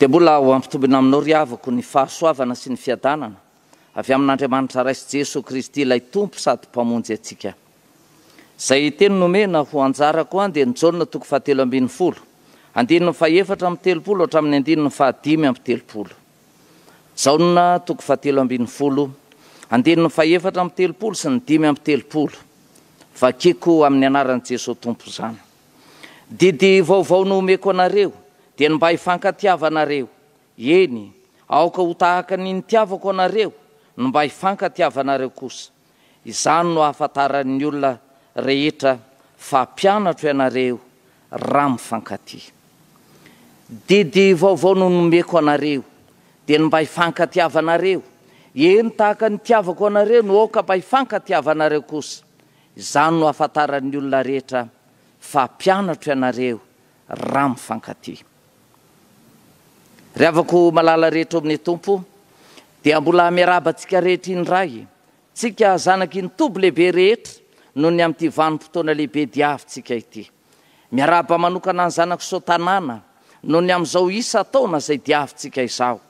Dia mbola ho ampitombina aminao ry havako ny fahasoavana sy ny fiadanana avy amin'Andriamanitra Ray sy Jesoa Kristy ilay Tompo sady Mpamonjy antsika. Izay teny nomena ho anjarako an dia ny Jaona toko fahatelo ambin'ny folo, andininy fahefatra amby telopolo hatramin'ny andininy fahadimy amby telopolo. Jaona toko fahatelo ambin'ny folo, andininy fahefatra amby telopolo sy ny dimy amby telopolo. Vakiko amin'ny anaran'i Jesoa Tompo izany. Didy vaovao no omeko anareo, dia ny mba hifankatiavanareo. Eny, aoka ho tahaka ny nitiavako anareo no mba hifankatiavanareo kosa. Izany no hahafantaran'ny olona rehetra fa mpianatro ianareo, raha mifankatia. Didy vaovao no nomeko anareo, dia ny mba hifankatiavanareo. Eny, tahaka ny nitiavako anareo no aoka mba hifankatiavanareo kosa. Izany no hahafantaran'ny olona rehetra fa mpianatro ianareo raha mifankatia. Ry havako malala rehetra ao amin'ny Tompo, dia mbola miarahaba antsika rehetra indray, tsika zanak'i Ntoby lehibe rehetra noho ny amin'ity vanim-potoana lehibe diavintsika ity. Miarahaba manokana ny zanak'i Sotanana noho ny amin'izao isan-taona izay diavintsika izao.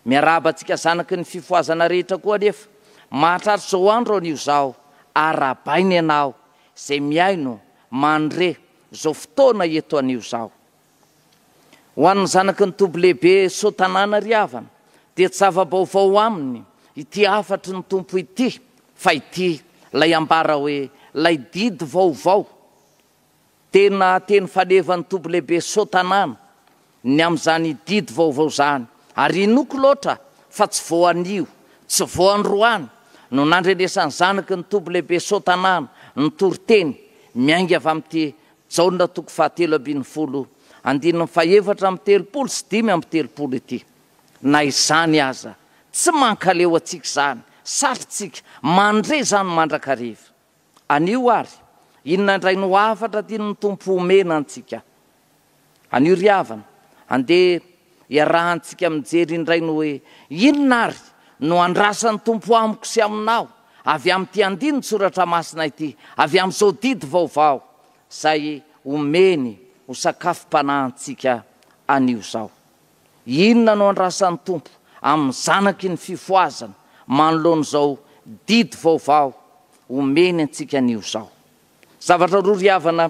Miarahaba antsika zanaky ny fifohazana rehetra koa anefa. Mahatratra izao andro anio izao, arahabaina ianao izay mihaino, mandre, izao fotoana eto anio izao. Ho an'ny zanaky ny Toby Lehibe Soa Tanàna ry havana, dia tsy zava-baovao aminy ity hafatry ny Tompo ity, fa ity ilay ambara hoe, ilay didy vaovao, Tena teny falevan'ny toby lehibe Soa Tanàna ny amin'izany didy vaovao izany ary inoako loatra fa tsy vao anio, tsy vao androany no nandrenesan'ny zanaky ny toby lehibe Soa Tanàna ny toriteny miainga avy amin'ity Jaona toko fahatelo ambin'ny folo andininy fahefatra amby telopolo sy dimy amby telopolo ity. Na izany aza, tsy mankaleo antsika izany satry tsika mandre izany mandrakariva. Anio ary, inona indray no hafatra tian'ny Tompo homena antsika? Anio ry havana, andeha hiarahantsika mijery indray ny hoe inona ary no andrasan'ny Tompo amiko sy aminao avy amin'ity andinin-tsoratra masina ity, avy amin'izao didy vaovao izay omeny ho sakafom-panahy antsika anio izao. Inona no andrasan'ny Tompo amin'ny zanaky ny fifohazana manoloana izao didy vaovao omeny antsika anio izao? Zavatra roa ry havana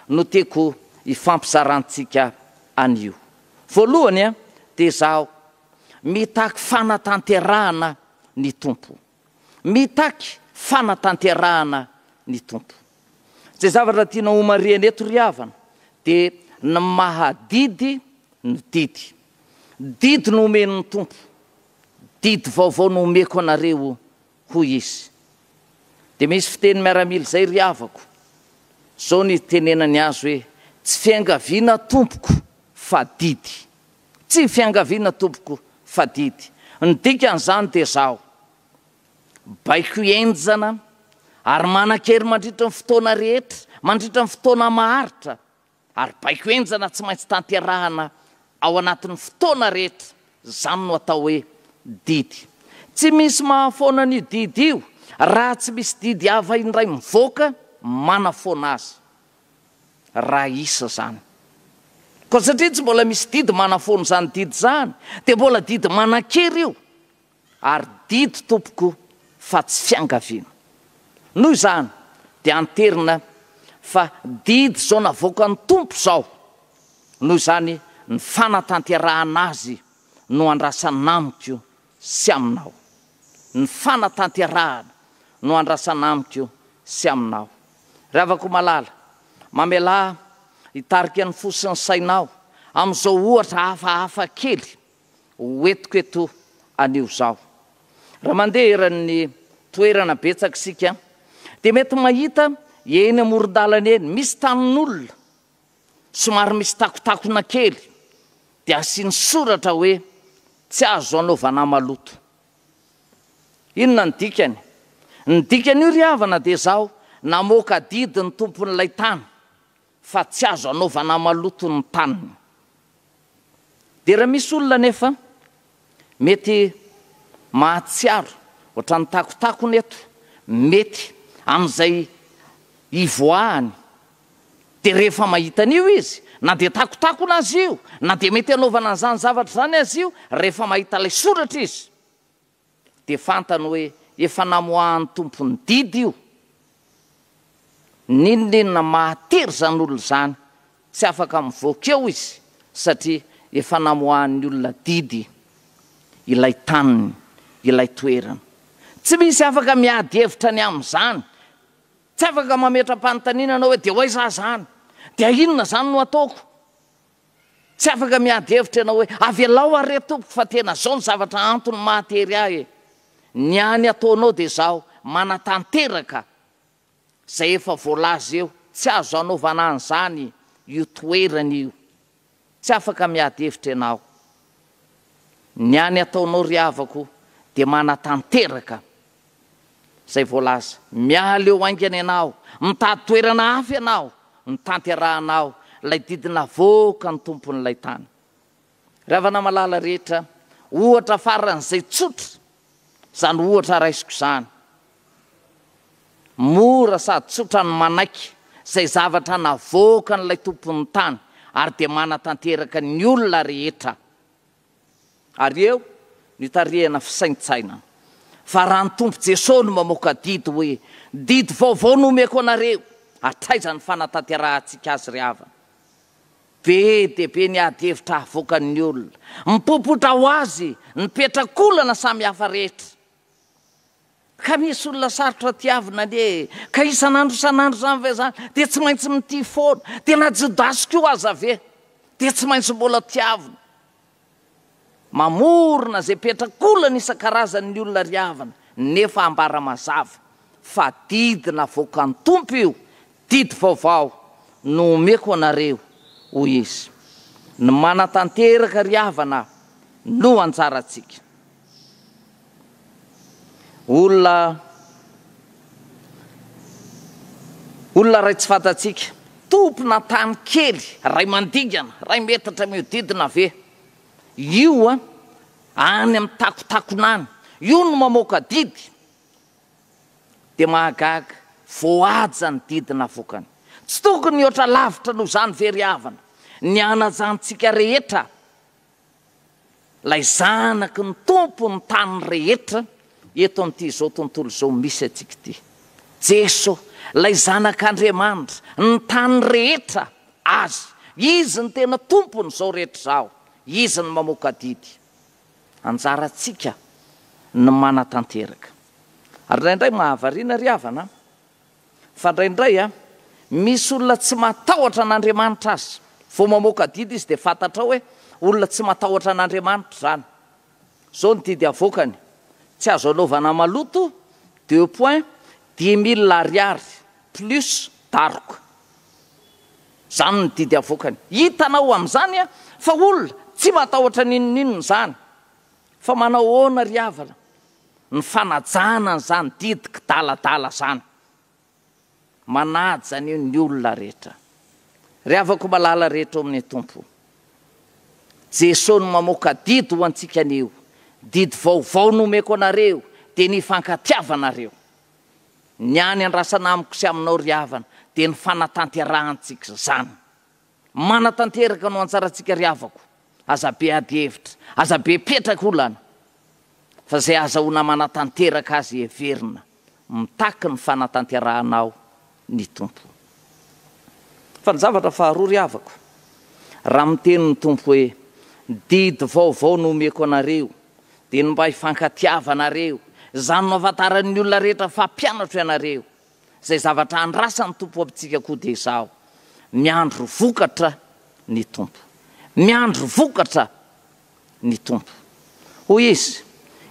no tiako hifampizarantsika anio. Voalohany dia izaho mitaky fanatanterahana ny Tompo. Mitaky fanatanterahana ny Tompo. Izay zavatra tiana homarihina eto ry havana dia ny maha didy ny didy. Didy no omen'ny Tompo, didy vaovao no omeko anareo hoy Izy. Dia misy fiteny miaramila izay ry havako, izao no itenenany azy hoe, tsy fiangaviana tompoko fa didy. Tsy fiangaviana tompoko fa didy. Ny dikan'izany dia izao, baiko henjana ary manan-kery mandritry ny fotoana rehetra, mandritry ny fotoana maharitra, ary baiko henjana tsy maintsy tanterahana ao anatin'ny fotoana rehetra, izany no atao hoe didy. Tsy misy mahafoana an'io didy io raha tsy misy didy hafa indray mivoaka manafoana azy. raha hisy izany. Koa satria tsy mbola misy didy manafoana izany didy izany, dia mbola didy manan-kery io, ary didy tompoko fa tsy fiangaviana. Noho izany dia anterina fa didy izao navoakan'ny Tompo izao, noho izany ny fanatanterahana azy no andrasana amiko sy aminao. Ny fanatanterahana no andrasana amiko sy aminao. Ry havako malala, mamelà hitarika ny fo sy ny sainao amin'izao ohatra hafahafa kely hoentiko eto anio izao. Raha mandeha eran'ny toerana betsaka isika dia mety mahita eny amoron-dalana eny misy tanin'olona, somary misy takotakona kely dia asiany soratra hoe tsy azo anaovana maloto. Inona ny dikany? Ny dikan'io ry havana dia izao, namoaka didy ny tompon'ilay tany fa tsy azo anaovana maloto ny taniny. Dia raha misy olona anefa mety mahatsiaro ohatran'ny takotakony eto, mety amin'izay ivoahany, dia rehefa mahita an'io izy, na dia takotakona aza io, na dia mety hanaovana an'izany zavatra izany aza io, rehefa mahita ilay soratra izy, dia fantany hoe efa namoahan'ny tompony didy io, n'inon'inona mahatery izany olona izany, tsy afaka mivoaka eo izy satria efa namoahan'ny olona didy ilay taniny, ilay toerany. Tsy misy afaka miady hevitra ny amin'izany, tsy afaka mametra-panontaniana ianao hoe dia ho aiza aho izany, dia inona izany no ataoko? Tsy afaka miady hevitra ianao hoe, avelao aho re tompoko fa tena zao ny zavatra antony mahatery ahy e! Ny any ataonao dia zaho manatanteraka zay efa voalaza eo, tsy azo anaovana an'zany io toerana io. Tsy afaka miady hevitra ianao. Ny any ataonao ry havako dia manatanteraka izay voalaza. Miala eo haingana ianao, mitady toerana hafa ianao, ny tanterahanao ilay didy navoaka ny tompon'ilay tany. Ry havana malala rehetra, ohatra faran'izay tsotra izany ohatra raisiko izany. Mora sady tsotra ny manaiky izay zavatra navoakan'ilay tompon'ny tany ary dia manatanteraka ny olona rehetra. Ary eo no itarihana fisaintsainana fa raha ny Tompo Jesoa no mamoaka didy hoe didy vaovao no omeko anareo, hatraiza ny fanatanterahantsika azy ry havana? Be dia be ny ady hevitra havoakan'ny olona, mipopotra ho azy ny petrak'olana samihafa rehetra. Ka misy olona sarotra tiavina anie e! Ka isan'andro isan'andro izany ve izany? Dia tsy maintsy mitia foana? Dia na Jodasy koa aza ve dia tsy maintsy mbola tiavina? Mamorona izay petrakolana isan-karazany ny olona ry havana, nefa ambara mazava fa didy navoakan'ny Tompo io, didy vaovao no omeko anareo, hoy Izy. Ny manatanteraka ry havana no anjarantsika. Olona Olona iray tsy fantatsika. Tompona tany kely iray mandingana, iray metatra mihodidina ve? Io an, any amin'ny takontakona any. Io no mamoaka didy. Dia mahagaga, voahaja ny didy navoakany. Tsy tokony hihoatra lavitra noho izany ve ry havana? Ny anajantsika rehetra. Ilay zanaky ny Tompo ny tany rehetra eto amin'ity izao tontolo izao misy antsika ity. Jeso, ilay zanak'Andriamanitra, ny tany rehetra Azy. Izy ny tena Tompon'izao rehetra izao. Izy no mamoaka adidy. Anjarantsika ny manatanteraka. Ary indraindray mahavariana ry havana an! Fa indraindray a, misy olona tsy matahotra an'Andriamanitra aza vao mamoaka adidy izy dia fantatrao hoe olona tsy matahotra an'Andriamanitra izany. Izao ny didy avoakany, tsy azo anaovana maloto, deux points, dix mille ariary plus daroka. Izany ny didy avoakany. Hitanao amin'izany a, fa olona tsy matahotra n'inon'inona izany. Fa manao ahoana ry havana? ny fanajana an'izany didy kidaladala izany. Manaja an'io ny olona rehetra. Ry havako malala rehetra ao amin'ny Tompo, Jesoa no mamoaka didy ho antsika anio, didy vaovao no omeko anareo, dia ny hifankatiavanareo. Ny any andrasana amiko sy aminao ry havana, dia ny fanatanterahantsika izany. Manatanteraka no antsarantsika ry havako, aza be ady hevitra, aza be petraka olana fa izay azahoana manatanteraka azy heverina mitaky ny fanatanterahana aho ny Tompo. Fa ny zavatra faharoa ry havako, raha miteny ny Tompo hoe didy vaovao no omeko anareo dia ny mba hifankatiavanareo, izany no ahafantaran'ny olona rehetra fa mpianatro ianareo, Zay zavatra andrasan'ny Tompo amintsika koa dia izaho, miandry vokatra ny Tompo. Miandry vokatra ny Tompo. Hoy Izy,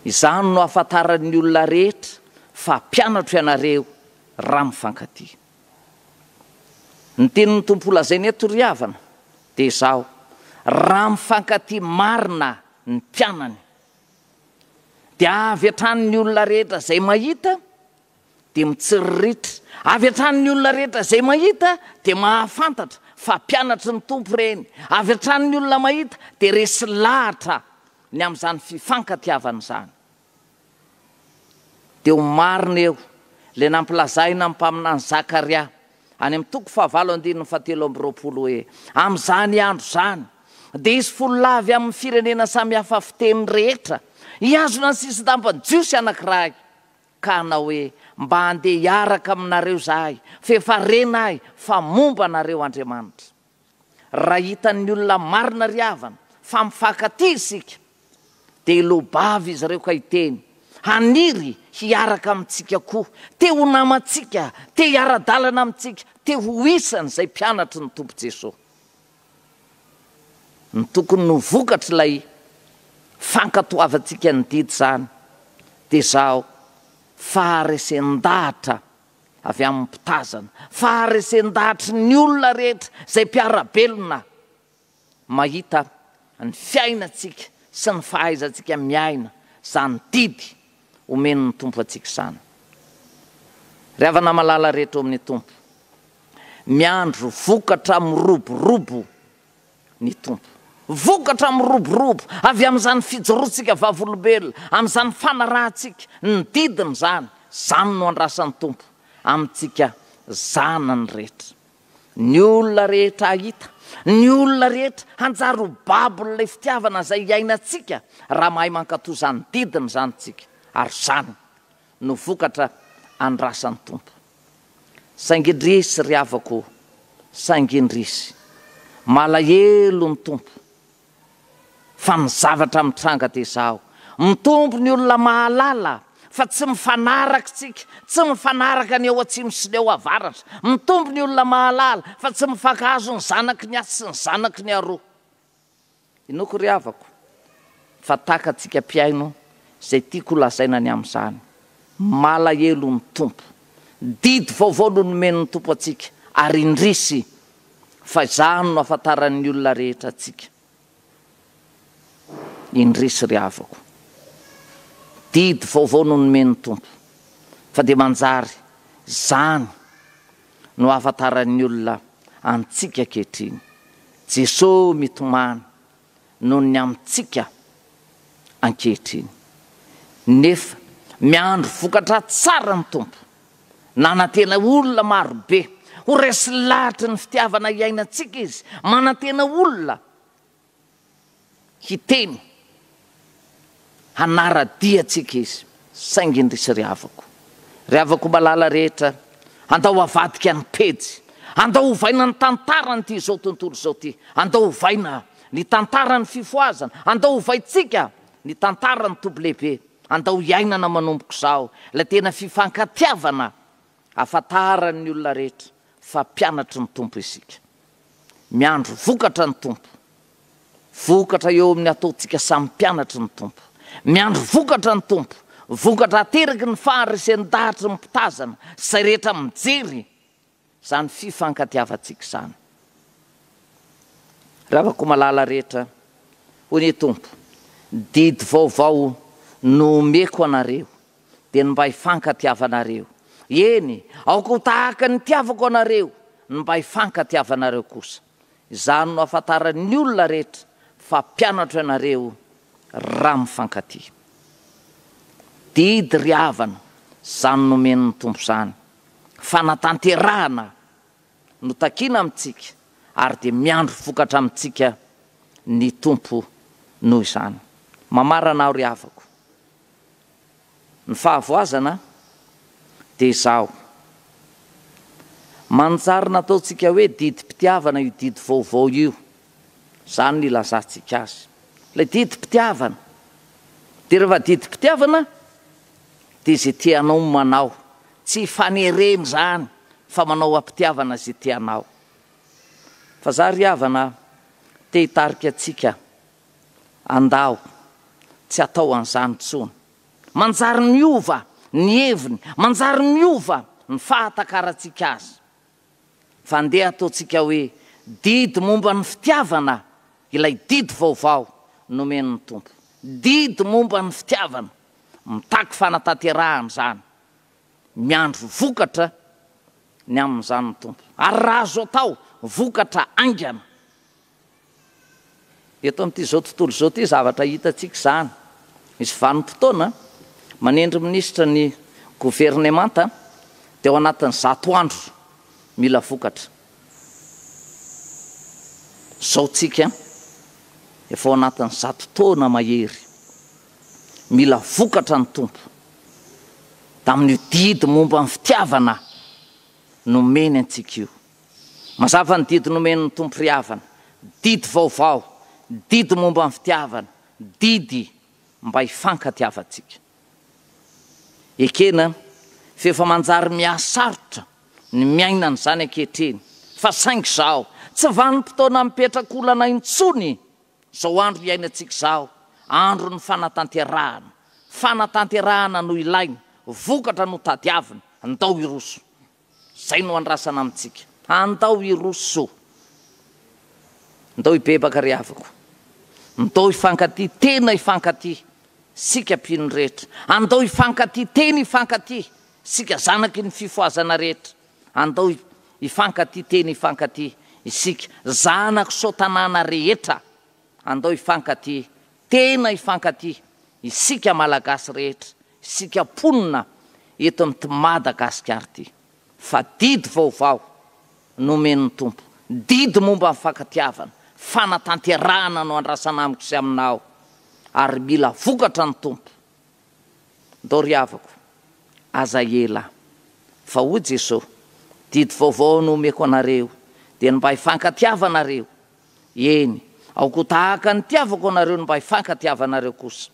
Izany no hahafantaran'ny olona rehetra fa mpianatro ianareo raha mifankatia. Ny tenin'ny Tompo holazaina eto ry havana dia izao, raha mifankatia marina ny mpianany dia avy hatrany ny olona rehetra izay mahita dia mitsiriritra avy hatrany ny olona rehetra izay mahita dia mahafantatra fa mpianatry ny Tompo ireny, avy hatrany ny olona mahita dia resy lahatra ny amin'izany fifankatiavana izany. Dia ho marina eo ilay nampilazàina ny mpaminany Zakaria any amin'ny toko fahavalo andininy fahatelo amby roapolo hoe, Amin'izany andro izany dia hisy folo lahy avy amin'ny firenena samy hafa fiteny rehetra hihazona ny sisin-dampan'ny Jiosy anankiray, Ka hanao hoe, Mba handeha hiaraka aminareo zahay, f'efa rena ahy fa momba anareo Andriamanitra. Raha hitan'ny olona marina ry havana fa mifankatia isika, dia hiloa-bava izy ireo ka hiteny, Haniry hiaraka amintsika koa, te ho namantsika, te hiara-dalana amintsika, te ho isan'izay mpianatry ny Tompo Jesoa. Ny tokony ho vokatr'ilay fankatoavantsika ny didy izany dia izao, faharesen-dahatra avy amin'ny mpitazana, faharesen-dahatry ny olona rehetra izay mpiara-belona mahita ny fiainantsika sy ny fahaizantsika miaina izany didy Omen'ny Tompo antsika izany. Ry havana malala rehetra ao amin'ny Tompo, miandry vokatra miroborobo ny Tompo. Vokatra miroborobo avy amin'izany fijoroantsika vavolombelona, amin'izany fanarahantsika ny didiny izany. Izany no andrasan'ny Tompo amintsika zanany rehetra. Ny olona rehetra hahita, ny olona rehetra hanjary ho babon'ilay fitiavana izay iainantsika raha mahay mankatò izany didiny izany isika, ary izany no vokatra andrasan'ny Tompo. Saingy indrisy ry havako o, saingy indrisy! Malahelo ny Tompo Fa ny zavatra mitranga dia izao, mitombo ny olona mahalala fa tsy mifanaraka isika, tsy mifanaraka ny eo atsimo sy ny eo avaratra, mitombo ny olona mahalala fa tsy mifankahazo ny zanaky ny atsy sy ny zanaky ny aroa. Inoako ry havako fa takatsika mpihaino izay tiako holazaina ny amin'izany. Malahelo ny Tompo. Didy vaovao no nomen'ny Tompo antsika ary indrisy fa izany no afantaran'ny olona rehetra antsika. Indrisy ry havako. Didy vaovao no nomen'ny Tompo, fa dia manjary izany no ahafantaran'ny olona antsika ankehitriny. Jesoa mitomany noho ny amintsika ankehitriny. Nefa miandry vokatra tsara ny Tompo. Nanantena olona maro be ho resy lahatra ny fitiavana hiainantsika Izy. Manantena olona hiteny Hanara-dia antsika izy, saingy indrisy ry havako. Ry havako malala rehetra, andao avadika ny pejy. Andao ovaina ny tantaran'ity izao tontolo izao ity. Andao ovaina ny tantaran'ny fifohazana. Andao ovaintsika ny tantaran'ny toby lehibe. Andao iainana manomboka izao ilay tena fifankatiavana. Hafantaran'ny olona rehetra fa mpianatry ny Tompo isika. Miandry vokatra ny Tompo. Vokatra eo amin'ny ataontsika samy mpianatry ny Tompo. Miandry vokatra ny Tompo. Vokatra ateraky ny faharesen-dahatry ny mpitazana sy izay rehetra mijery izany fifankatiavantsika izany. Ry havako malala rehetra, hoy ny Tompo, didy vaovao no omeko anareo. dia ny mba hifankatiavanareo. Eny, aoka ho tahaka ny nitiavako anareo ny mba hifankatiavanareo kosa. Izany no hahafantaran'ny olona rehetra fa mpianatro ianareo, raha mifankatia. Didy ry havana, izany nomen'ny Tompo izany, fanatanterahana no takiana amintsika, ary dia miandry vokatra amintsika ny Tompo noho izany. Mamarana aho ry havako. Ny fahavoazana dia izao, manjary nataontsika hoe didim-pitiavana io didy vaovao io, izany no ilazantsika azy. Ilay didim-pitiavana, dia rehefa didim-pitiavana dia izay tianao no manao, tsy fanerena izany fa manao am-pitiavana izay tianao. Fa izaho ry havana te hitarika antsika Andao tsy atao an'izany intsony. Manjary miova ny heviny, manjary miova ny fahatakarantsika azy. Fa andeha ataontsika hoe didy momba ny fitiavana ilay didy vaovao nomen'ny Tompo. Didy momba ny fitiavana. Mitaky fanatanterahana izany. Miandry vokatra ny amin'izany ny Tompo. Ary raha azo atao, vokatra haingana. Eto amin'ity izao tontolo izao ity zavatra hitantsika izany. Misy vanim-potoana manendry minisitra ny governemanta dia ao anatin'ny zato andro mila vokatra. Izao tsika efa ao anatin'ny zato taona mahery mila vokatra ny Tompo tamin'io didy momba ny fitiavana nomeny antsika io. Mazava ny didy nomen'ny Tompo ry havana, didy vaovao, didy momba ny fitiavana, didy mba hifankatiavantsika. Ekena f'efa manjary mihasarotra ny miaina an'izany ankehitriny, fa saingy izao, tsy vanim-potoana mipetraka olana intsony izao andro iainantsika izao, andron'ny fanatanterahana, fanatanterahana no ilaina, vokatra no tadiavina, ndao hiroso Izay no andrasana amintsika. Andao hiroso. Ndao hibebaka ry havako. Ndao hifankatia tena hifankatia isika mpino rehetra. Andao hifankatia tena hifankatia isika zanaky ny fifohazana rehetra. Andao hifankatia tena hifankatia isika zanak'i Sotanana rehetra. Andao hifankatia tena hifankatia isika Malagasy rehetra. Isika mponina eto amin'ity Madagasikara ity fa didy vaovao nomen'ny Tompo, didy momba ny fankatiavana, fanatanterahana no andrasana amiko sy aminao ary mila vokatra ny Tompo. Ndao ry havako, aza ela fa hoy Jesoa, didy vaovao no omeko anareo dia ny mba hifankatiavanareo, eny, aoka ho tahaka ny itiavako anareo ny mba hifankatiavanareo kosa.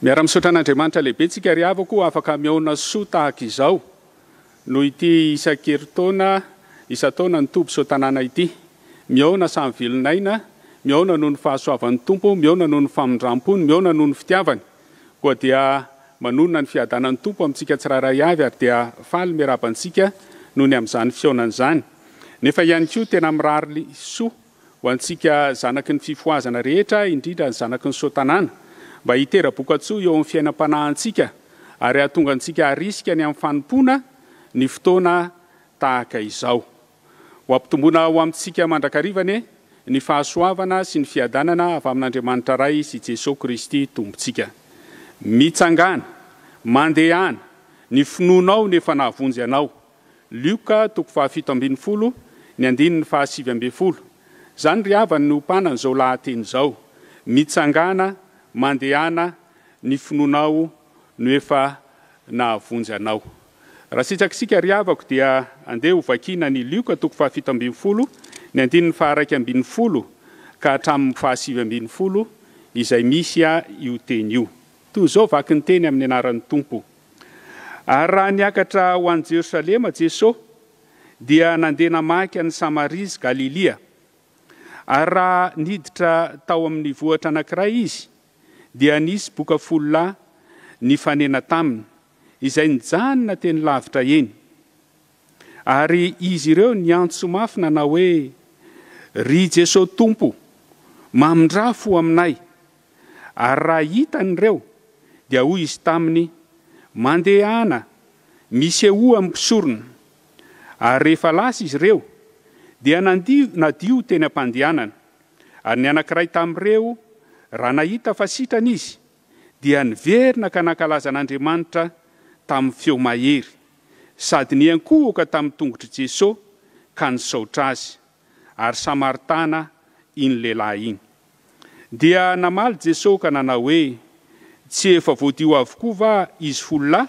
Miara misaotra an'Andriamanitra lehibe tsika ry havako afaka mihaona soa tahaka izao noho ity isan-keritaona isan-taona ny toby sotanana ity. Mihaona samy velon'aina, mihaona noho ny fahasoavan'ny Tompo, mihaona noho ny famindram-pony, mihaona noho ny fitiavany. Koa dia manonona ny fiadanan'ny Tompo amintsika tsirairay avy ary dia faly miaraba antsika noho ny amin'izany fihaonana izany. Nefa ihany koa tena mirary soa. Ho antsika zanaky ny fifohazana rehetra, indrindra ny zanaky ny soa-tanàna, mba hitera-bokatsoa eo amin'ny fiainam-panahintsika ary hahatonga antsika harisika ny amin'ny fanompoana ny fotoana tahaka izao. Ho ampitomboina ho amintsika mandrakariva anie ny fahasoavana sy ny fiadanana avy amin'Andriamanitra Ray sy Jesoa Kristy Tompontsika. Mitsangàna, mandehana, ny finoanao no efa nahavonjy anao. Lioka toko fahafito ambin'ny folo, ny andininy fahasivy ambin'ny folo. Izany ry havany no ompanan'izao lahateny izao, Mitsangàna, mandehana, ny finoanao no efa nahavonjy anao. Raha sitraka isika ry havako dia andeha ho vakiana ny Lioka toko fahafito ambin'ny folo, ny andininy faharaika ambin'ny folo ka hatramin'ny fahasivy ambin'ny folo izay misy io teny io. Toy izao vaky ny teny amin'ny anaran'ny Tompo. Ary raha niakatra ho any Jerosalema Jesoa, dia nandeha namaky an'i Samaria sy Galilia. Ary raha niditra tao amin'ny vohitra anankiray Izy, dia nisy boka folo lahy nifanena taminy, izay nijanona teny lavitra eny. Ary izy ireo niantso mafy nanao hoe, Ry Jeso Tompo, mamindrafo aminay! Ary raha hitany ireo, dia hoy izy taminy, Mandehana, misehoa amin'ny mpisorona. Ary rehefa lasa izy ireo, dia nandio nadio teny am-pandehanana. Ary ny anankiray tamin'ireo, raha nahita fa sitrana izy, dia niverina ka nankalaza an'Andriamanitra tamin'ny feo mahery, sady niankohoka tamin'ny tongotr'i Jeso ka nisaotra Azy. Ary Samaritana iny lehilahy iny. Dia namaly Jeso ka nanao hoe, Tsy efa voadio avokoa va izy folo lahy?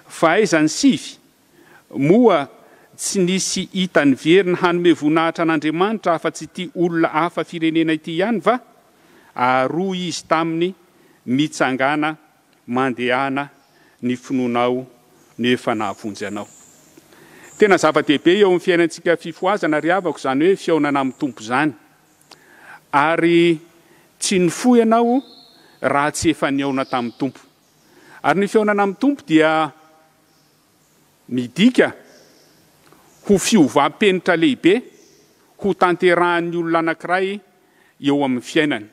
Fa aiza ny sivy? Moa tsy nisy hita niverina hanome voninahitra an'Andriamanitra afa-tsy ity olona hafa firenena ity ihany va? Ary hoy izy taminy, Mitsangàna, mandehana, ny finoanao no efa nahavonjy anao. Tena zava-dehibe eo amin'ny fiainantsika fifohazana ry havako izany hoe fihaonana amin'ny Tompo izany. Ary tsy nifoha ianao raha tsy efa nihaona tamin'ny Tompo. Ary ny fihaonana amin'ny Tompo dia. Midika ho fiovam-penitra lehibe hotanterahan'ny olona anankiray eo amin'ny fiainany.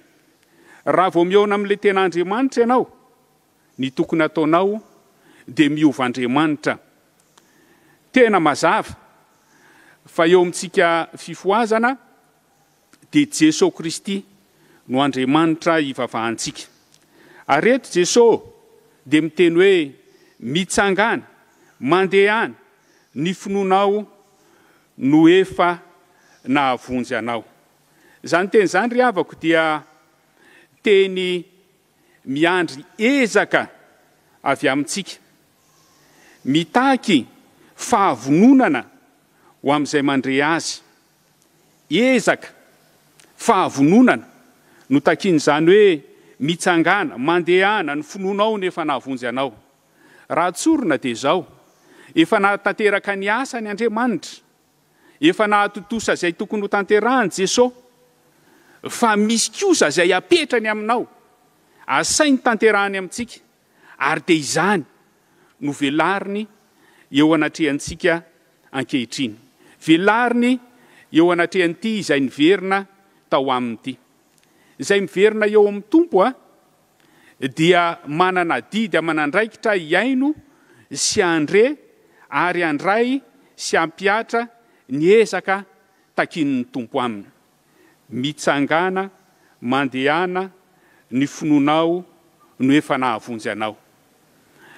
Raha vao mihaona amin'ilay tena Andriamanitra ianao, ny tokony hataonao dia miova Andriamanitra. Tena mazava fa eo amintsika fifohazana Dia Jeso Kristy no Andriamanitra ivavahantsika. Ary eto Jeso dia miteny hoe mitsangana, mandeha any, ny finoanao no efa nahavonjy anao. Izany teny izany ry havako dia teny miandry ezaka avy amintsika, mitaky fahavononana ho amin'izay mandre azy. Ezaka, fahavononana no takian'izany hoe mitsangàna, mandehana ny finoanao no efa nahavonjy anao. Raha tsorina dia izao, efa nahatanteraka ny asany Andriamanitra, efa nahatontosa izay tokony hotanterahany Jesoa, fa misy kosa izay apetrany aminao, asainy tanterahany amintsika. ary dia izany no velariny eo anatrehantsika ankehitriny, velariny eo anatrehan'ity izay niverina tao aminy ity. Izay miverina eo amin'ny Tompo dia manana adidy aman'andraikitra hihaino sy handre ary handray sy hampihatra ny ezaka takian'ny Tompo aminy. mitsangana mandehana ny finoanao no efa nahavonjy anao.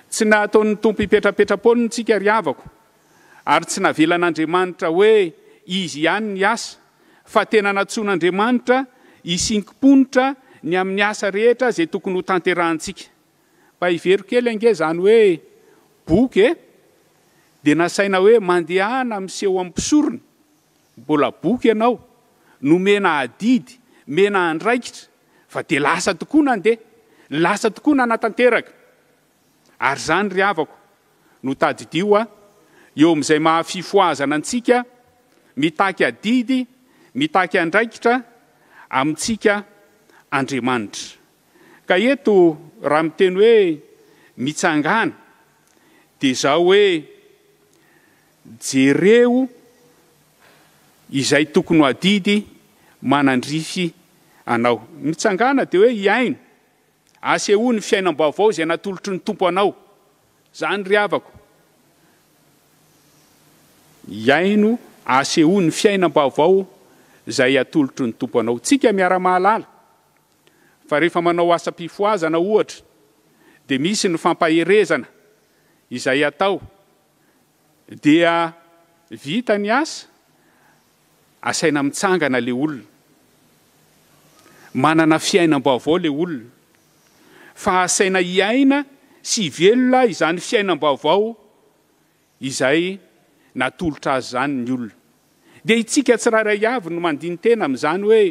Tsy nataon'ny Tompo hipetrapetra-poana antsika ry havako ary tsy navelan'Andriamanitra hoe Izy ihany ny asa fa tena nantsoin'Andriamanitra hisinkim-ponitra ny amin'ny asa rehetra izay tokony ho tanterahantsika. Mba hevero kely ange izany hoe boky e! Dia nasaina hoe mandehana miseho amin'ny mpisorona. Mbola boky ianao, nomena adidy, mena andraikitra, fa dia lasa tokoa nandeha, lasa tokoa nanatanteraka. Ary izany ry havako no tadidio a, eo amin'izay maha fifohazana antsika, mitaky adidy, mitaky andraikitra amintsika Andriamanitra. Ka eto raha miteny hoe mitsangàna, dia izao hoe, Jereo izay tokony ho adidy manandrify anao. Mitsangàna dia hoe hihaino. Asehoy ny fiainam-baovao izay natolotry ny Tompo anao. Izany ry havako. Hihaino, asehoy ny fiainam-baovao izay atolotry ny Tompo anao. Tsika miara-mahalala fa rehefa manao asam-pifohazana ohatra dia misy ny fampaherezana izay atao. dia vita ny asa, asaina mitsangana ilay olona. Manana fiainam-baovao ilay olona. Fa asaina hiaina sy hivelona izany fiainam-baovao izay natolotra azy izany ny olona. dia itsika tsirairay avy no mandini-tena amin'izany hoe,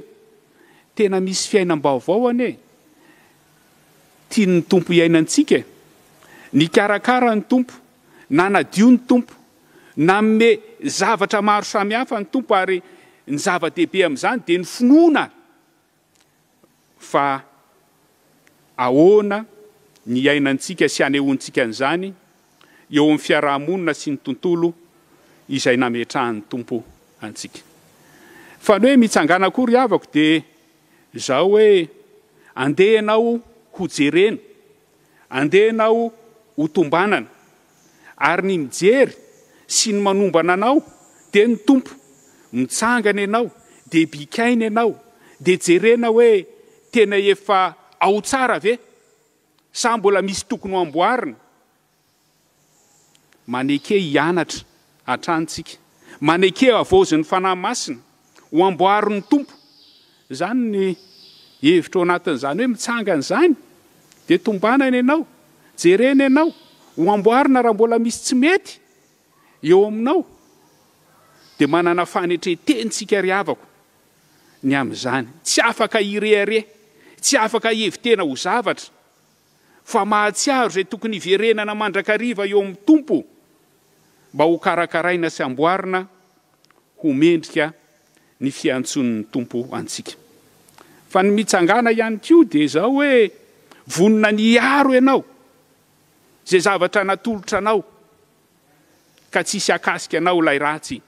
Tena misy fiainam-baovao anie tian'ny Tompo hiainantsika e! Nikarakara ny Tompo, nanadio ny Tompo, nanome zavatra maro samihafa ny Tompo ary ny zava-dehibe amin'izany dia ny finoana Fa ahoana ny iainantsika sy anehoantsika an'izany eo amin'ny fiaraha-monina sy ny tontolo izay nametrahan'ny Tompo antsika? Fa ny hoe mitsangàna koa ry havako dia izao hoe, andeha ianao hojerena, andeha ianao hotombanana, ary ny mijery sy ny manombana anao dia ny Tompo, mitsangana ianao dia bikaina ianao dia jerena hoe tena efa ao tsara ve sa mbola misy tokony ho amboarina, maneke hianatra hatrany tsika, maneke havaozin'ny Fanahy Masina Ho amboarin'ny Tompo. Izany ny hevitra ao anatin'izany hoe mitsangana izany, dia tombanana ianao, jerena ianao, ho amboarina raha mbola misy tsy mety eo aminao, dia manana fanetren-teny tsika ry havako ny amin'izany. Tsy afaka hirehareha, tsy afaka hihevi-tena ho zavatra, fa mahatsiaro izay tokony hiverenana mandrakariva eo amin'ny Tompo. mba ho karakaraina sy amboarina ho mendrika ny fiantsoan'ny Tompo antsika. Fa ny mitsangàna ihany koa dia izao hoe vonona ny hiaro ianao, izay zavatra natolotra anao, ka tsy hisy hakasika anao ilay ratsy.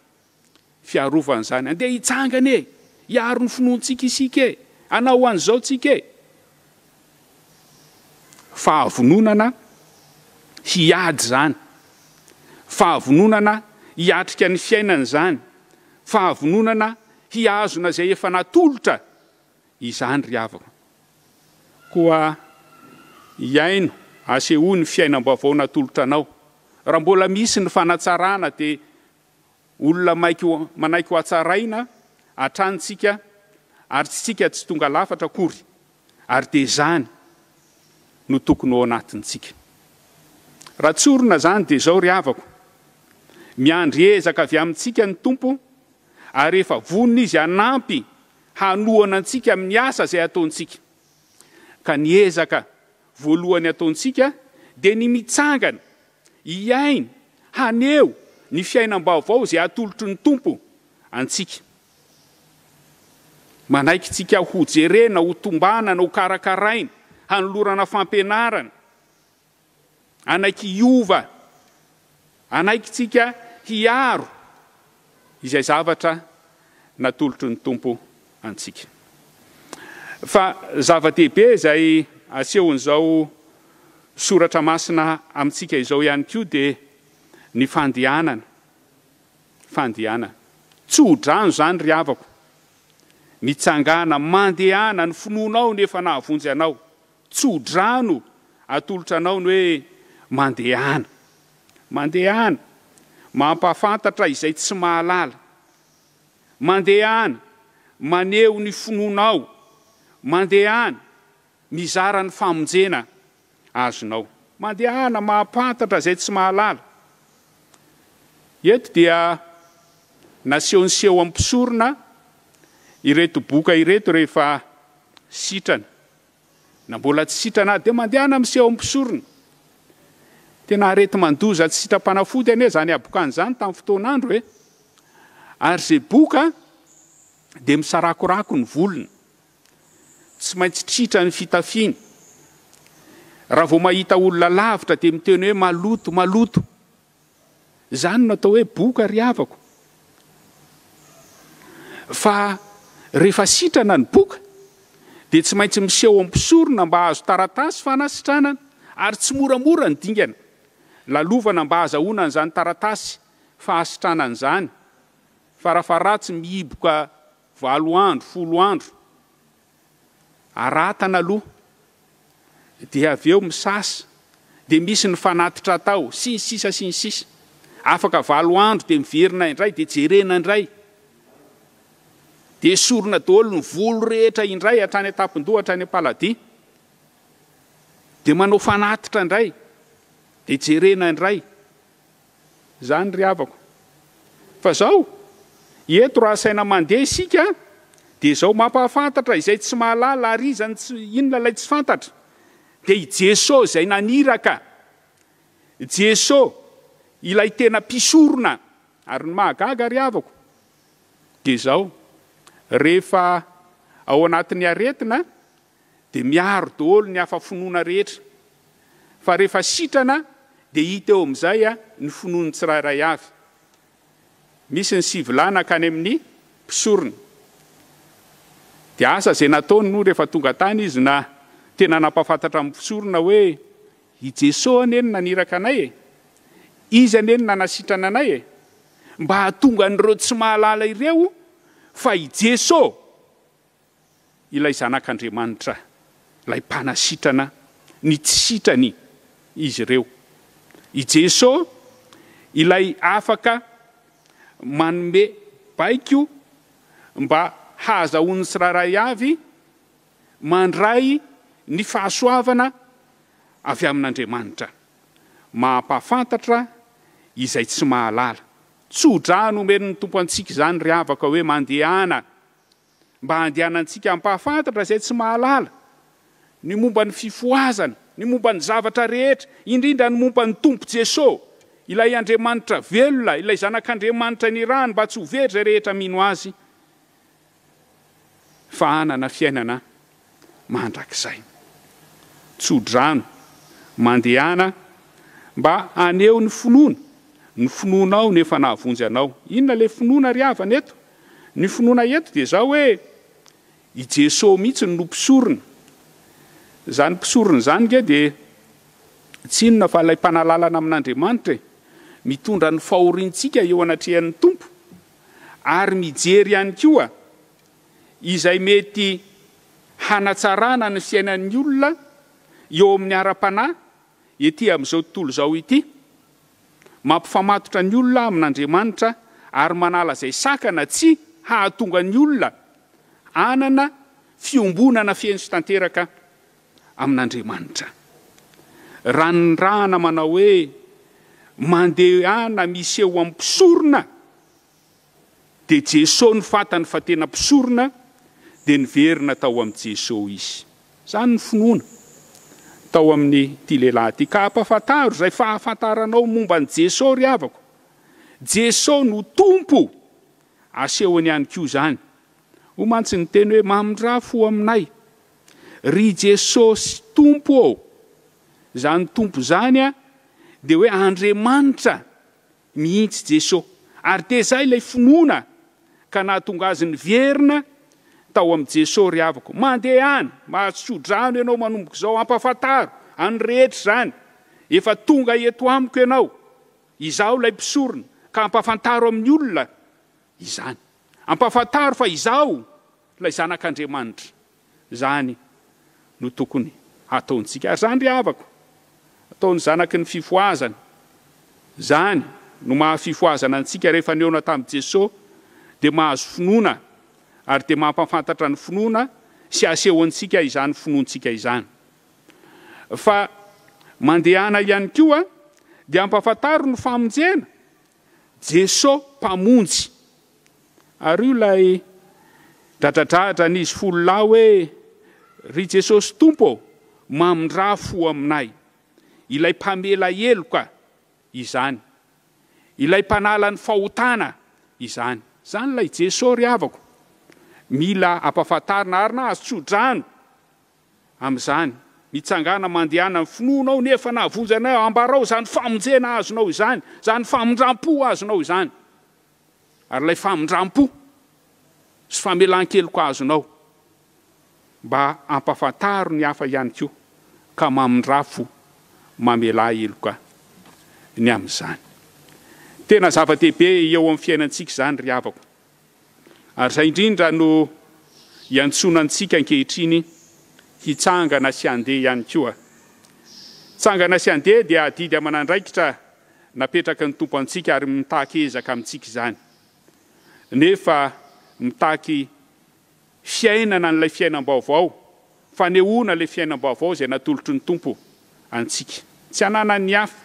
fiarovana izany. Andeha hitsangana e! Hiaro ny finoantsika isika e! Hanao an'izao tsika e! Fahavononana hiady izany, fahavononana hiatrika ny fiainana izany, fahavononana hihazona izay efa natolotra izany ry havako. Koa hiaino, asehoy ny fiainam-baovao natolotra anao. Raha mbola misy ny fanatsarana dia Olona maiko manaiky hohatsaraina hatrany tsika ary tsika tsy tonga lafatra akory ary dia zany no tokony ho ao anatin tsika. Raha tsorina zany dia zao ry havako, miandry ezaka avy amin tsika ny Tompo ary efa vonona Izy hanampy hanohana antsika amin ny asa izay ataon tsika. Ka ny ezaka voalohany ataon tsika dia ny mitsangana Hihaino, haneho, ny fiainam-baovao izay atolotry ny Tompo antsika. Manaiky tsika ho jerena, ho tombanana, ho karakaraina, hanolorana fampianarana. Hanaiky hiova. Hanaiky tsika hiaro. izay zavatra natolotry ny Tompo antsika. Fa zava-dehibe izay asehon'izao soratra masina amintsika izao ihany koa dia ny fandehanana. Fandehanana. Tsy ho drano izany ry havako. Mitsangàna, mandehana, ny finoanao no efa nahavonjy anao. Tso-drano atolotra anao ny hoe Mandehana. Mandehana, mampahafantatra izay tsy mahalala. Mandehana, maneho ny finoanao. Mandehana, mizara ny famonjena azonao. Mandehana, mampahantatra izay tsy mahalala. Eto dia nasehon'i Seho amin'ny mpisorona ireto boka ireto rehefa sitrana. Na mbola tsy sitrana dia mandehana miseho amin'ny mpisorona. Tena areti-mandoza tsy sitrapanafody anie izany habokany izany tamin'ny fotoan'andro e! Ary izay boka dia misarakorako ny volony, tsy maintsy tritra ny fitafiny, raha vao mahita olona lavitra dia miteny hoe maloto, maloto. Izany no atao hoe boka ry havako. Fa rehefa sitrana ny boka dia tsy maintsy miseho amin'ny mpisorona mba hahazo taratasy fanasitranana ary tsy moramora ny dingana lalovana mba hahazahoana an'izany taratasy fahasitranana izany, farafaharatsy mihiboka valo andro, folo andro Aratana aloha dia avy eo misasa, dia misy ny fanatitra atao, sy ny sisa sy ny sisa. Afaka valo andro dia miverina indray, dia jerena indray. Dia esorina daholo ny volo rehetra indray hatrany an-tampon-doha hatrany am-paladia. Dia manao fanatitra indray, dia jerena indray. Izany ry havako. Fa izao, eto raha asaina mandeha isika dia izao, mampahafantatra izay tsy mahalala ary iza no tsy, inona ilay tsy fantatra? Dia i Jeso izay naniraka, Jeso ilay tena mpisorona. Ary ny mahagaga ry havako dia izao, rehefa ao anatin'ny aretina dia miaro daholo ny hafa finoana rehetra, fa rehefa sitrana dia hita eo amin'izay ny finoan'ny tsirairay avy. Misy ny sivilà nankany amin'ny mpisorona. Dia asa izay nataony moa rehefa tonga tany izy na tena nampahafantatra amin'ny mpisorona hoe, i Jesoa anie no naniraka anay e! Izy anie no nanasitrana anay e! Mba hahatonga an'ireo tsy mahalala ireo fa i Jesoa Ilay Zanak'Andriamanitra, Ilay Mpanasitrana ny tsy sitrany izy ireo. I Jeso, Ilay afaka manome baiko mba hahazahoan'ny tsirairay avy, mandray ny fahasoavana avy amin'Andriamanitra. Mampahafantatra izay tsy mahalala. Tso-drano omen'ny Tompo antsika izany ry havako hoe mandehana. mba handehanantsika hampahafantatra izay tsy mahalala ny momba ny fifohazana, ny momba ny zavatra rehetra, indrindra ny momba ny Tompo Jesoa, ilay Andriamanitra velona, ilay Zanak'Andriamanitra nirahany mba tsy ho very izay rehetra mino Azy fa hanana fiainana mandrakizay. Tso-drano, mandehana mba haneho ny finoana, ny finoanao no efa nahavonjy anao. Inona ilay finoana ry havana eto? Ny finoana eto dia izao hoe, i Jesoa mihitsy no mpisorona. Izany mpisorona izany ange dia tsy inona fa ilay mpanalalana amin'Andriamanitra e! Mitondra ny fahoriantsika eo anatrehan'ny Tompo ary mijery ihany koa izay mety hanatsarana ny fiainan'ny olona eo amin'ny ara-panahy ety amin'izao tontolo izao ity, mampifamatotra ny olona amin'Andriamanitra ary manala izay sakana tsy hahatonga ny olona hanana fiombonana feno sy tanteraka amin'Andriamanitra. Ranirahana manao hoe mandehana miseho amin'ny mpisorona. Dia Jeso no fantany fa tena mpisorona dia niverina tao amin'i Jeso izy. Izany no finoana tao amin'ity lehilahy ity. Ka ampafantaro izay fahafantaranao momba an'i Jeso ry havako. Jeso no Tompo! Asehony ihany koa izany. Hoy mantsy ny teny hoe mamindrafo ho aminay. Ry Jesosy Tompo ô! Izany Tompo izany dia hoe Andriamanitra mihitsy Jeso, ary dia izay ilay finoana ka nahatonga azy niverina tao amin'i Jeso ry havako. Mandehana, mahatso-drano ianao manomboka izao, ampafantaro an'ny rehetra izany, efa tonga eto amiko ianao, izaho ilay mpisorona, ka ampafantaro amin'ny olona izany. Ampafantaro fa izaho. Ilay Zanak'Andriamanitra. Izany no tokony hataontsika. Ary izany ry havako, ataon'ny zanaky ny fifohazana. Izany no maha fifohazana antsika, rehefa nihaona tamin'i Jesoa, dia mahazo finoana, ary dia mampafantatra ny finoana sy asehontsika izany finoantsika izany. Fa mandehana ihany koa dia ampafantaro ny famonjena Jeso mpamonjy. Ary io ilay dradradradra n'izy folo lahy hoe, Ry Jesosy Tompo ô, mamindrà fo aminay. Ilay mpamela heloka izany. Ilay mpanala ny fahotana izany. Izany ilay Jeso ry havako. Mila ampahafantarina ary na azo tsodrano amin'izany, mitsangàna mandehana ny finoanao nefa nahavonjanay ambarao izany famonjena azonao izany, izany famindram-po azonao izany, ary ilay famindram-po sy famelan-keloka azonao mba hampafantaro ny hafa ihany koa ka mamindrà fo, mamelà heloka ny amin'izany. Tena zava-dehibe eo amin'ny fiainantsika izany ry havako Ary izay indrindra no iantsoana antsika ankehitriny hitsangana sy handeha ihany koa. Tsangana sy handeha dia adidy aman'andraikitra napetraky ny Tompo antsika ary mitaky ezaka amintsika izany. Nefa mitaky Fiainana an'ilay fiainam-baovao, fanehoana ilay fiainam-baovao izay natolotry ny Tompo antsika. Tsy hananan'ny hafa,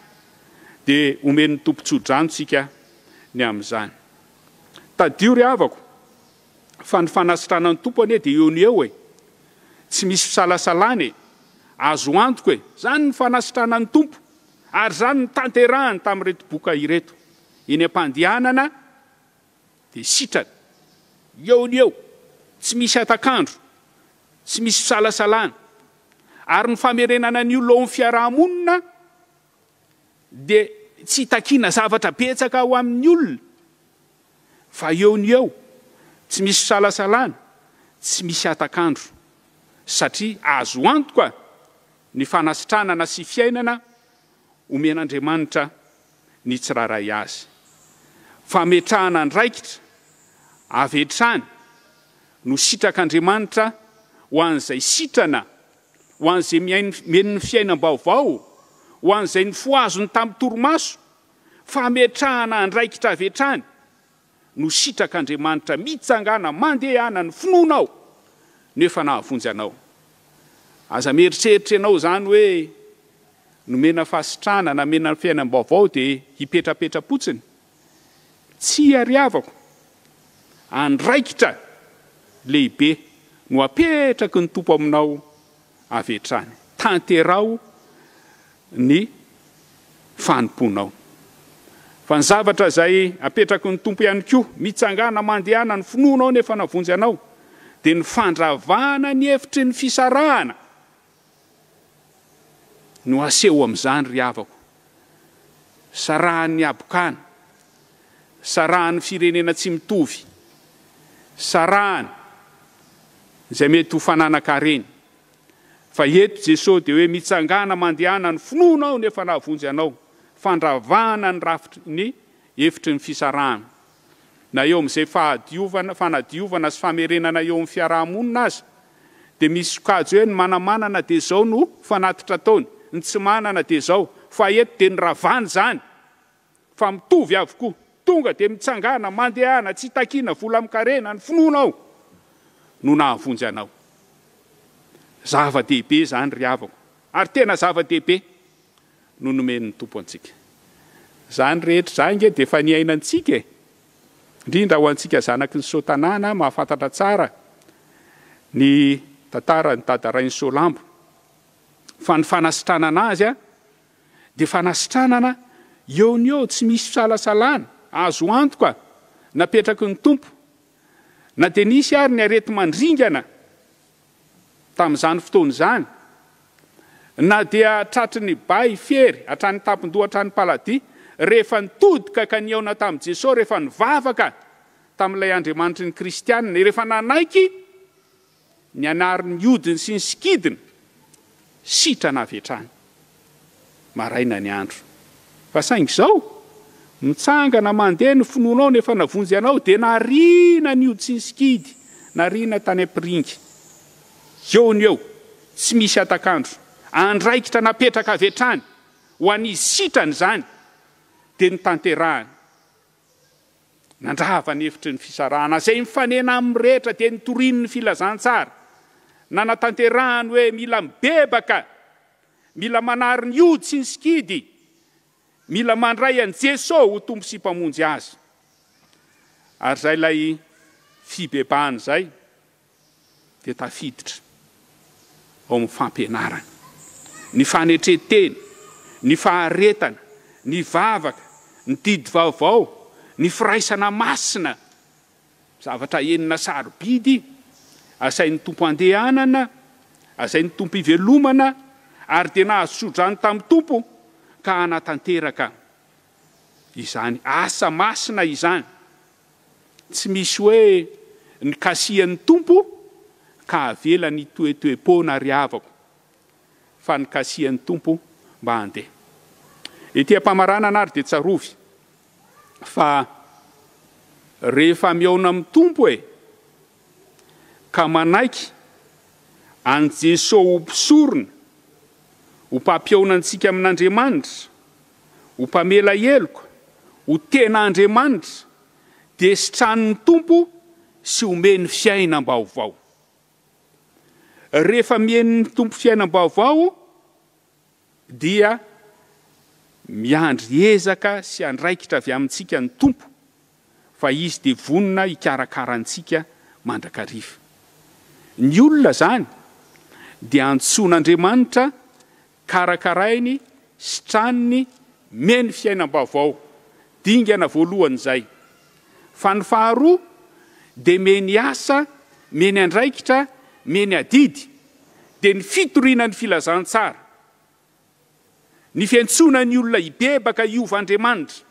dia homen'ny Tompo tso-drano tsika ny amin'izany. Tadidio ry havako, fa ny fanasitranan'ny Tompo anie dia eo no eo e! Tsy misy fisalasalana e! Azo antoka e! Izany ny fanasitranan'ny Tompo, ary izany no tanterahiny tamin'ireto boka ireto, eny am-pandehanana, Dia sitrana. Eo no eo. Tsy misy hatak'andro. Tsy misy fisalasalana. Ary ny famerenana an'io laon'ny fiaraha-monina dia tsy hitakiana zavatra betsaka ho amin'ny olona fa eo no eo. Tsy misy fisalasalana. Tsy misy hatak'andro. Satria azo antoka ny fanasitranana sy fiainana omen'Andriamanitra. ny tsirairay azy. Fametrahana andraikitra avy hatrany no sitrak'Andriamanitra ho an'izay sitrana, ho an'izay mihaino ny fiainam-baovao, ho an'izay nifohaziny tamin'ny torimaso, fametrahana andraikitra avy hatrany no sitrak'Andriamanitra mitsangàna mandehana ny finoanao no efa nahavonjy anao. Aza mieritreritra ianao izany hoe nomena fahasitrahana na mena fiainam-baovao dia hipetrapetra-potsiny. Tsia ry havako, andraikitra lehibe no apetraky ny Tompo aminao avy hatrany. Tanteraho ny fanompoanao. Fa ny zavatra izay apetraky ny Tompo ihany koa, mitsangàna mandehana ny finoanao nefa navonjy anao, dia ny fandravana ny hevitry ny fisarahana no aseho amin'izany ry havako. sarahan'ny habokana, sarahan'ny firenena tsy mitovy, sarahany izay mety ho fananan-kareny. Fa eto Jesosy dia hoe mitsangàna mandehana ny finoanao no efa nahavonjy anao, fandravana ny rafitry ny efitry ny fisarahana. na eo amin'izay fahadiovana, fanadiovana sy famerenana eo amin'ny fiaraha-monina aza dia misy sokajy hoe ny manamanana dia izao no fanatitra ataony, ny tsy manana dia izao, fa eto dia niravana izany fa mitovy avokoa, tonga dia mitsangàna, mandehana, tsy takiana vola amin-karena, ny finoanao no nahavonjy anao. Zava-dehibe izany ry havako, ary tena zava-dehibe. no nomen'ny Tompo antsika. Izany rehetra izany ange dia efa niainantsika e! Indrindra ho antsika zanaky ny Soatanàna mahafantatra tsara ny tantaran'i Dada Rainisoalambo. Fa ny fanasitranana azy dia fanasitranana eo ny eo, tsy misy fisalasalana, azo antoka, napetraky ny Tompo. Na dia nisy ary ny areti-mandringana Tamin'izany fotoana izany, na dia tratry ny bay fiery hatrany an-tampon-doha hatrany paladia, rehefa nitodika ka nihaona tamin'i Jesoa, rehefa nivavaka tamin'ilay Andriamanitry ny Kristianina, rehefa nanaiky ny anariny hodiny sy ny sikidiny, sitrana avy hatrany. maraina ny andro. Fa saingy izao, mitsangana mandeha ny finoanao ny efa navonjy anao dia nariana ny hoditry ny sikidy nariana tany am-piringa. Eo no eo, tsy misy hatak'andro, andraikitra napetraka avy hatrany ho an'izy sitrany izany dia notanterahany. Nandrava ny efitry ny fisarahana izay mifanena amin'ny rehetra dia nitoriany ny filazantsara nanatanterahany hoe mila mibebaka Mila manary ny ody sy ny sikidy, mila mandray an'i Jeso ho Tompo sy Mpamonjy azy. Ary zay ilay fibebahany zay dia tafiditra ao amin'ny fampianarana. Ny fanetren-tena, ny faharetana, ny vavaka, ny didy vaovao, ny firaisana masina. Zavatra enina sarobidy, Asain'ny Tompo andehanana, Asain'ny Tompo ivelomana, ary dia nahazo tsodrano tamin'ny Tompo ka hanatanteraka izany asa masina izany. Tsy misy hoe nikasihan'ny Tompo ka avelany hitoetoe-poana ry havako, fa nikasihan'ny Tompo mba handeha. Ety am-pamaranana ary dia tsarovy, fa rehefa mihaona amin'ny Tompo e, ka manaiky an'i Jeso ho mpisorona, ho mpampihaona antsika amin'Andriamanitra, ho mpamela heloka, ho tena Andriamanitra, dia sitranin'ny Tompo sy omeny fiainam-baovao. Rehefa mihaino ny Tompo fiainam-baovao dia miandry ezaka sy andraikitra avy amintsika ny Tompo, fa Izy dia vonona hikarakara antsika mandrakariva. Ny olona izany dia antsoin'Andriamanitra, karakarainy, sitraniny, mihaino fiainam-baovao, dingana voalohany izay. Fa ny faharoa dia mihaino asa, mihaino andraikitra, mihaino adidy, dia ny fitoriana ny filazantsara, ny fiantsoana ny olona hibebaka hiova Andriamanitra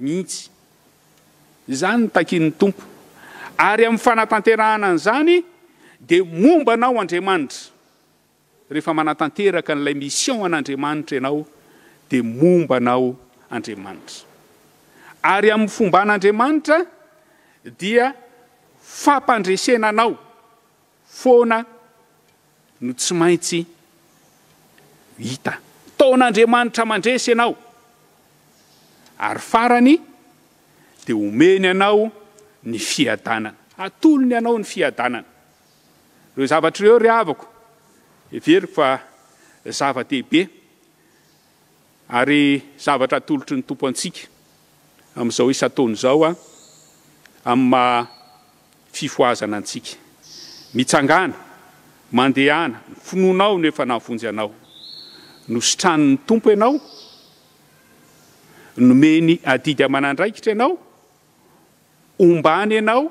mihitsy. Izany no takian'ny Tompo. Ary amin'ny fanatanterahana an'izany dia momba anao Andriamanitra. Rehefa manatanteraka an'ilay mission an'Andriamanitra ianao dia momba anao Andriamanitra. Ary amin'ny fomba an'Andriamanitra dia fampandresena anao foana no tsy maintsy hita. Ntaon'Andriamanitra mandresy ianao. Ary farany dia omeny anao ny fiadanana. Atolony anao ny fiadanana. Ireo zavatra ireo ry havako, heveriko fa zava-dehibe ary zavatra atolotry ny Tompo antsika amin'izao isan-taona izao amin'ny maha fifohazana antsika. Mitsangàna, mandehana, ny finoanao no efa nahavonjy anao. Nositranin'ny Tompo ianao, nomeny adidy aman'andraikitra ianao, ombàny ianao,